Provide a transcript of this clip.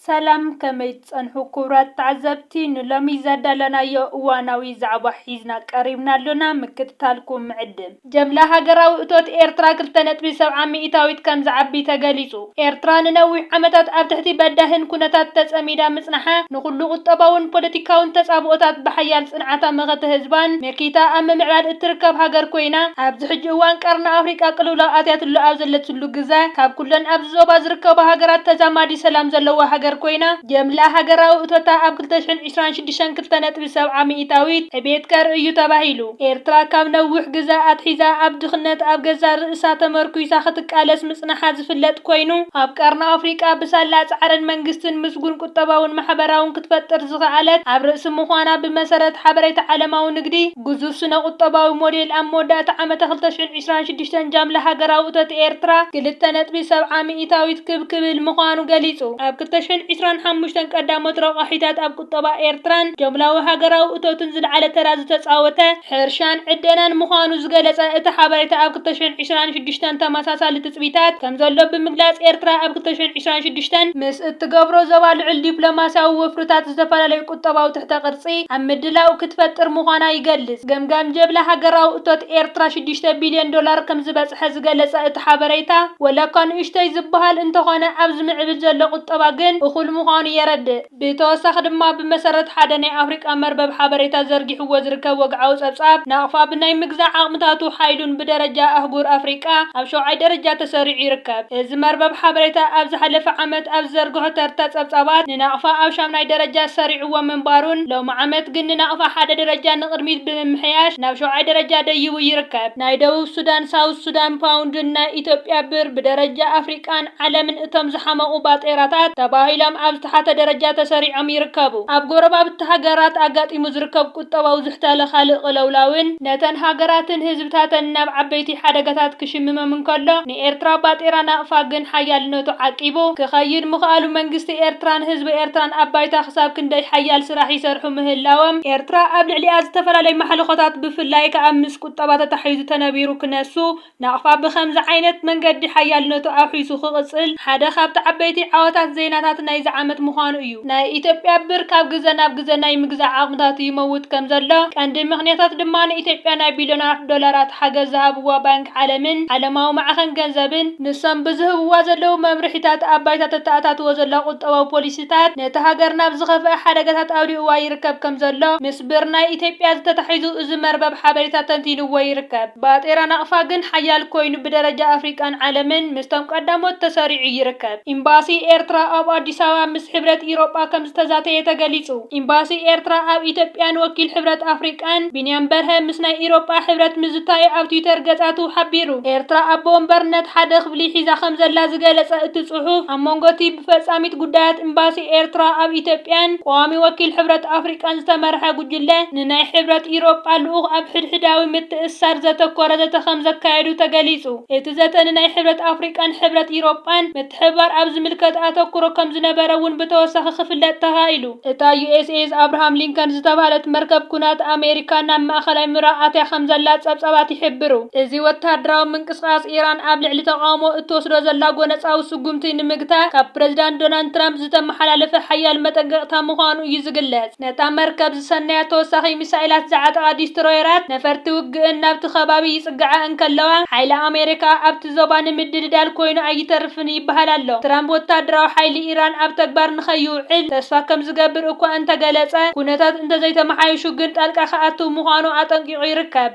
ሰላም ከመይ ትጸንሑ ኩቡራት ተዓዘብቲ ንሎሚ ዘዳለናዮ እዋናዊ ዛዕባ ሒዝና ቀሪብና ኣሎና ምክትታልኩም ንዕድም። ጀምላ ሃገራዊ እቶት ኤርትራ ክልተ ነጥቢ ሰብዓ ሚኢታዊት ከም ዝዓቢ ተገሊጹ። ኤርትራ ንነዊሕ ዓመታት ኣብ ትሕቲ በዳሂን ኩነታት ተጸሚዳ ምጽናሓ፣ ንኹሉ ቁጠባውን ፖለቲካውን ተጻብኦታት ብሓያል ጽንዓታ መኸተ ህዝባን መኪታ ኣብ ምምዕባል እትርከብ ሃገር ኮይና፣ ኣብዚ ሕጂ እዋን ቀርኒ ኣፍሪቃ ቅልውላው ኣትያትሉ ኣብ ዘለትሉ ግዘ፣ ካብ ኩለን ኣብ ዞባ ዝርከባ ሃገራት ተዛማዲ ሰላም ዘለዋ ሃገር ኮይና፣ ጀምላ ሃገራዊ እቶታ ኣብ ክልተ ሽሕን ዕስራን ሽዱሽተን ክልተ ነጥቢ ሰብዓ ሚኢታዊት ዕቤት ከርኢ እዩ ተባሂሉ። ኤርትራ ካብ ነዊሕ ግዘ ኣትሒዛ ኣብ ድኽነት ኣብ ገዛእ ርእሳ ተመርኲሳ ክትቃለስ ምጽናሓ ዝፍለጥ ኮይኑ፣ ኣብ ቀርኒ ኣፍሪቃ ብሳላ ጻዕርን መንግስትን ምስጉን ቁጠባውን ማሕበራውን ክትፈጥር ዝኸኣለት ኣብ ርእሲ ምዃና ብመሰረት ሓበሬታ ዓለማዊ ንግዲ ግዙፍ ስነ-ቁጠባዊ ሞዴል ኣብ መወዳእታ ዓመተ ክልተ ሽሕን ዕስራን ሽዱሽተን ጃምላ ሃገራዊ እቶት ኤርትራ ክልተ ነጥቢ ሰብዓ ሚኢታዊት ክብ ክብል ምዃኑ ገሊጹ። ኣብ ክልተ ሽሕን ዕስራን ሓሙሽተን ቀዳሞት ረቋሒታት ኣብ ቁጠባ ኤርትራን ጃምላዊ ሃገራዊ እቶትን ዝለዓለ ተራ ዝተጻወተ ሕርሻን ዕደናን ምዃኑ ዝገለጸ እቲ ሓበሬታ ኣብ ክልተ ሽሕን ዕስራን ሽዱሽተን ተመሳሳሊ ትጽቢታት ከምዘሎ ብምግላጽ ኤርትራ ኣብ ክልተ ሽሕን ዕስራን ሽዱሽተን ምስ እትገብሮ ዞባ ልዑል ዲፕሎማስያዊ ወፍርታት ዝተፈላለዩ ቁጠባዊ ትሕተ ቅርጺ ኣብ ምድላው ክትፈጥር ምዃና ይገልጽ። ገምጋም ጀብላ ሃገራዊ እቶት ኤርትራ ሽዱሽተ ቢልዮን ዶላር ከምዝበጽሐ ዝገለጸ እቲ ሓበሬታ፣ ወላኳ ንእሽቶይ ዝበሃል እንተኾነ ኣብ ዝምዕብል ዘሎ ቁጠባ ግን እኹል ምዃኑ የረድእ። ብተወሳኺ ድማ ብመሰረት ሓደ ናይ ኣፍሪቃ መርበብ ሓበሬታ ዘርጊሕዎ ዝርከብ ወግዓዊ ጸብጻብ፣ ናቕፋ ብናይ ምግዛእ ዓቕምታቱ ሓይሉን ብደረጃ ኣህጉር ኣፍሪቃ ኣብ ሸውዓይ ደረጃ ተሰሪዑ ይርከብ። እዚ መርበብ ሓበሬታ ኣብ ዝሓለፈ ዓመት ኣብ ዝዘርግሖ ተርታ ጸብጻባት፣ ንናቕፋ ኣብ ሻምናይ ደረጃ ሰሪዑዎ ምንባሩን ሎሚ ዓመት ግን ንናቕፋ ሓደ ደረጃ ንቕድሚት ብምምሕያሽ ናብ ሸውዓይ ደረጃ ደይቡ ይርከብ። ናይ ደቡብ ሱዳን፣ ሳውዝ ሱዳን፣ ፓውንድን ናይ ኢትዮጵያ ብር ብደረጃ ኣፍሪቃን ዓለምን እቶም ዝሓመቑ ባጤራታት ተባሂሎም ኣብ ዝተሓተ ደረጃ ተሰሪዖም ይርከቡ። ኣብ ጎረባብቲ ሃገራት ኣጋጢሙ ዝርከብ ቁጠባዊ ዝሕታለ ካልእ ቅልውላውን ነተን ሃገራትን ህዝብታተንን ናብ ዓበይቲ ሓደጋታት ክሽምሞም እንከሎ፣ ንኤርትራ ባጤራ ናቕፋ ግን ሓያልነቱ ዓቂቡ ክኸይድ ምኽኣሉ መንግስቲ ኤርትራን ህዝቢ ኤርትራን ኣብ ባይታ ክሳብ ክንደይ ሓያል ስራሕ ይሰርሑ ምህላወም፣ ኤርትራ ኣብ ልዕሊኣ ዝተፈላለየ ማሕልኾታት ብፍላይ ከኣ ምስ ቁጠባ ተታሒዙ ተነቢሩ ክነሱ ናቕፋ ብኸምዚ ዓይነት መንገዲ ሓያልነቱ ኣውሒሱ ክቕጽል ሓደ ካብቲ ዓበይቲ ዓወታት ዜናታት ናይዚ ዓመት ምዃኑ እዩ። ናይ ኢትዮጵያ ብር ካብ ግዘ ናብ ግዘ ናይ ምግዛእ ዓቕምታቱ ይመውት ከምዘሎ፣ ቀንዲ ምኽንያታት ድማ ንኢትዮጵያ ናይ ቢልዮናት ዶላራት ሓገዝ ዝሃብዋ ባንክ ዓለምን ዓለማዊ ማዕኸን ገንዘብን፣ ንሶም ብዝህብዋ ዘለዉ መምርሒታት ኣብ ባይታ ተተኣታትዎ ዘላ ቁጠባዊ ፖሊሲታት ነታ ሃገር ናብ ዝኸፍኣ ሓደጋታት ኣውዲቕዋ ይርከብ ከምዘሎ ምስ ብር ናይ ኢትዮጵያ ዝተታሒዙ እዚ መርበብ ሓበሬታ ተንቲንዎ ይርከብ። ባጤራ ናቕፋ ግን ሓያል ኮይኑ ብደረጃ ኣፍሪቃን ዓለምን ምስቶም ቀዳሞት ተሰሪዑ ይርከብ። ኢምባሲ ኤርትራ ኣብ ኣዲስ ኣበባ ምስ ሕብረት ኢሮጳ ከምዝተዛተየ ተገሊጹ። ኢምባሲ ኤርትራ ኣብ ኢትዮጵያን ወኪል ሕብረት ኣፍሪቃን ቢንያም በርሀ ምስ ናይ ኢሮጳ ሕብረት ምዝታዩ ኣብ ትዊተር ገጻቱ ሓቢሩ። ኤርትራ ኣቦ ወንበርነት ሓደ ክፍሊ ሒዛ ከምዘላ ዝገለጸ እቲ ጽሑፍ፣ ኣብ መንጎ'ቲ ብፈጻሚት ጉዳያት ኢምባሲ ኤርትራ ኣብ ኢትዮጵያን ቀዋሚ ወኪል ሕብረት ኣፍሪቃን ዝተመርሐ ጉጅለ ንናይ ሕብረት ኢሮጳ ልኡኽ ኣብ ሕድሕዳዊ ምትእስሳር ዘተኮረ ዘተ ከምዘካየዱ ተገሊጹ። እቲ ብዘተ ንናይ ሕብረት ኣፍሪቃን ሕብረት ኢሮጳን ምትሕብባር ኣብ ዝምልከት ኣተኩሮ ከም ዝነበረ እውን ብተወሳኺ ክፍለጥ ተኻኢሉ። እታ ዩኤስኤስ ኣብርሃም ሊንከን ዝተባህለት መርከብ ኵናት ኣሜሪካ ናብ ማእከላይ ምብራቕ ኣትያ ከም ዘላ ጸብጻባት ይሕብሩ። እዚ ወተሃደራዊ ምንቅስቓስ ኢራን ኣብ ልዕሊ ተቓውሞ እትወስዶ ዘላ ጐነጻዊ ስጕምቲ ንምግታእ ካብ ፕረዚዳንት ዶናልድ ትራምፕ ዝተመሓላለፈ ሓያል መጠንቀቕታ ምዃኑ እዩ ዝግለጽ። ነታ መርከብ ዝሰነያ ተወሳኺ ሚሳኤላት ዝዓጠቓ ዲስትሮየራት፣ ነፈርቲ ውግእን ናብቲ ከባቢ ይጽግዓ እንከለዋ፣ ሓይሊ ኣሜሪካ ኣብቲ ዞባ ንምድልዳል ኮይኑ ኣይተርፍን ይበሃል ኣሎ። ትራምፕ ወተሃደራዊ ሓይሊ ኢራን ኣብ ተግባር ንኸይውዕል ተስፋ ከም ዝገብር እኳ እንተገለጸ፣ ኩነታት እንተዘይተመሓይሹ ግን ጣልቃ ክኣትው ምዃኑ ኣጠንቂቑ ይርከብ።